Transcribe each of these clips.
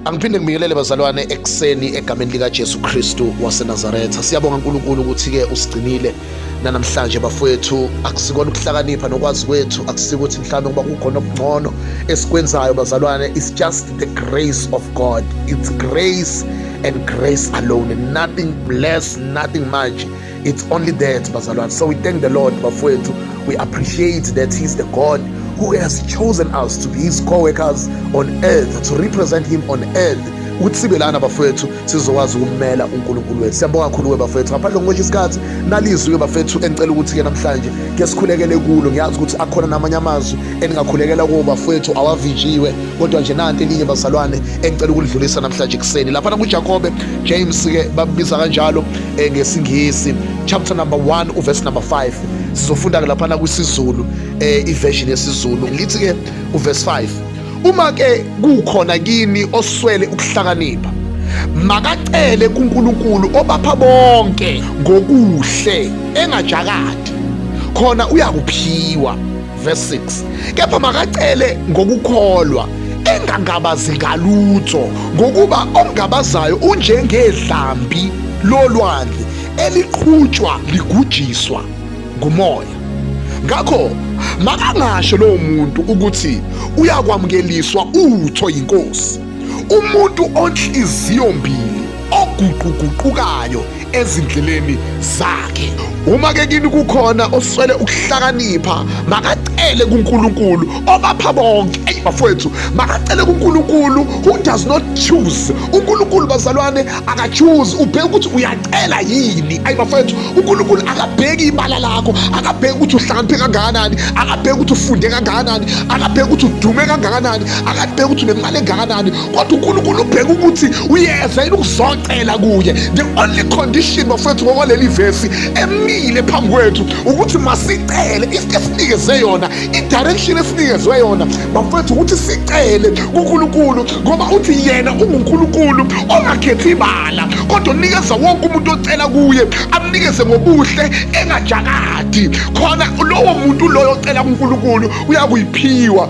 Angiphinde ngibingelele bazalwane ekuseni egameni likaJesu Kristu waseNazaretha. Siyabonga uNkulunkulu ukuthi-ke usigcinile nanamhlanje bafowethu. Akusikona ukuhlakanipha nokwazi kwethu, akusikuthi mhlawumbe ngoba kukhona okungcono esikwenzayo bazalwane. It's just the grace of God. It's grace and grace alone. Nothing less, nothing much. It's only that, Bazalwan. So we thank the Lord, Bafwetu. We appreciate that He's the God who has chosen us to be His co workers on earth, to represent Him on earth. ukuthi sibe lana bafethu sizokwazi ukumela uNkulunkulu wethu siyabonga kakhulu we bafethu ngaphandle ngokusho isikhathi nalizwi ke bafethu engicela ukuthi ke namhlanje ke sikhulekele kulo ngiyazi ukuthi akhona namanye amazwi eningakhulekela kuwo bafethu awavinjiwe kodwa nje nanti elinye bazalwane engicela ukulidlulisa namhlanje kuseni lapha nakuJakobe James ke babiza kanjalo eh, ngesingisi chapter number 1 uverse number 5 sizofunda-ke laphana kwisizulu um eh, iversion yesizulu lithi-ke uverse 5 uma-ke kukhona kini oswele ukuhlakanipha makacele kuNkulunkulu obapha bonke ngokuhle engajakadi khona uyakuphiwa verse 6 kepha makacele ngokukholwa engangabazi ngalutho ngokuba omngabazayo unjengedlambi lolwandle eliqhutshwa ligujiswa ngumoya ngakho makangasho lowo muntu ukuthi uyakwamukeliswa utho yinkosi umuntu onhliziyo mbili oguquguqukayo ezindleleni zakhe uma ke kini kukhona oswele ukuhlakanipha makacele kuNkulunkulu obapha bonke eyi bafowethu makacele kuNkulunkulu who does not choose uNkulunkulu bazalwane akachoose ubheke ukuthi uyacela yini ayi bafowethu uNkulunkulu akabheki ibala lakho akabheki ukuthi uhlakaniphe kangakanani akabheki ukuthi ufunde kangakanani akabheki ukuthi udume kangakanani akabheki ukuthi unemali engakanani kodwa unkulunkulu ubheka ukuthi uyeza yini ukuzocela kuye the only condition bafowethu ngokwaleli vesi emile phambi kwethu ukuthi masicele isinto esinikeze yona idirection esinikezwe yona bafowethu ukuthi sicele kunkulunkulu ngoba uthi yena ungunkulunkulu ongakhethi ibala kodwa unikeza wonke umuntu ocela kuye amnikeze ngobuhle engajakadi khona lowo muntu loyo ocela kunkulunkulu uyakuyiphiwa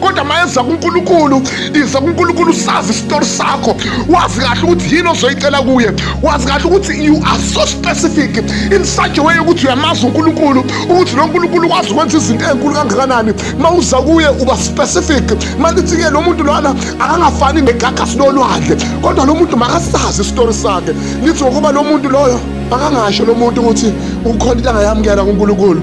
kodwa mayeza kuNkulunkulu iza kuNkulunkulu sazi isitori sakho wazi kahle ukuthi yini ozoyicela kuye wazi kahle ukuthi you are so specific in such a way ukuthi uyamazi uNkulunkulu ukuthi lo Nkulunkulu kwazi ukwenza izinto ezinkulu kangakanani mawuza kuye uba specific malithi ke lo muntu lona akangafani negagasi lolwandle kodwa lo muntu makasazi isitori sakhe lithi ngokuba lo muntu loyo akangasho lo muntu ukuthi ukhona into angayamukela kuNkulunkulu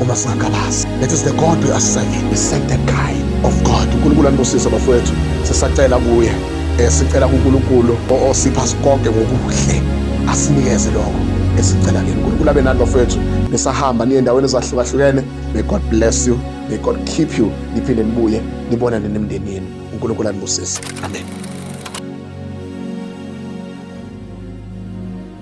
Uma singangabazi, that is the God we are serving. We serve the kind of God. UNkulunkulu anibusise bafowethu. Sisacela kuye. Eh sicela kuNkulunkulu osipha sikonke ngokuhle. Asinikeze lokho esicela kini. UNkulunkulu abe nani bafowethu. Nisahamba niye endaweni ezahlukahlukene. May God bless you. May God keep you. Niphinde nibuye nibonane nemndeni yenu. UNkulunkulu anibusise. Amen.